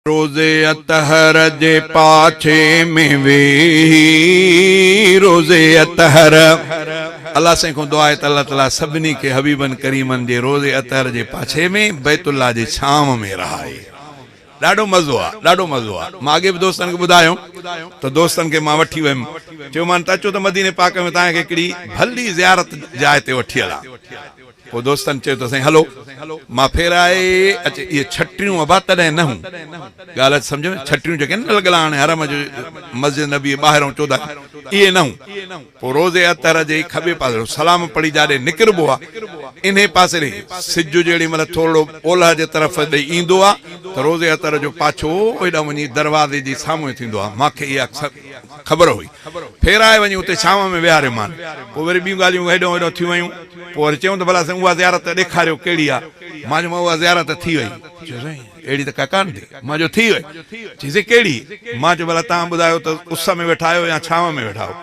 روز اطهر جي پاڇي ۾ ويهي روز اطهر الله سائين کان دعا آهي ته الله تعالي سڀني کي حبيبن ڪريمن جي روز اطهر جي پاڇي ۾ بيت الله جي ڇانو ۾ رهائي ڏاڍو مزو آ ڏاڍو مزو آ مان اڳي به دوستن کي ٻڌايو ته دوستن کي مان وٺي ويم چيومان ته اچو ته مديني پاڪ ۾ توهان کي هڪڙي ڀلي زيارت جاء تي وٺي هلان پوء دوستن چيو ته سائين هلو مان ڦيرائي اچ اهي ڇٽيون ابا تڏهن نه هون ڳالهه اچ سمجهه ۾ ڇٽيون جيڪي نه لڳل آهن حرم جي مسجد نبوي جي ٻاهرئون چوڌاري اهي نه هون پوء روض اطهر جي کٻي پاسي سلام پڙهي جاڏي نڪربو آ انهي پاسي ڏي سج جيڏي مهل ٿورڙو اولهه جي طرف ڏي ايندو آ ته روض اطهر جو پاڇو ايڏانهن وڃي دروازي جي سامهون ٿيندو آ مان کي اها خبر هئي. ڦيرائي وڃي اتي ڇانو ۾ ويهاريومان. پوء وري ٻيون ڳالهيون هيڏانهن هوڏانهن ٿيون ويون. پوء وري چيم ته ڀلا سائين اها زيارت ته ڏيکاريو ڪهڙي آ؟ مان چيم اها زيارت ته ٿي وئي. چيو سائين اهڙي ته ڪا ڪانه ٿي. مان چيو ٿي وئي. چيائين سائين ڪهڙي؟ مان چيو ڀلا تان ٻڌايو ته اس ۾ ويٺا آهيو يا ڇانو ۾ ويٺا آهيو؟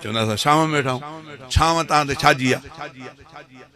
چوندا اسان ڇانو ۾ ويٺا آهيون. ڇانو تان تي ڇا جي آ؟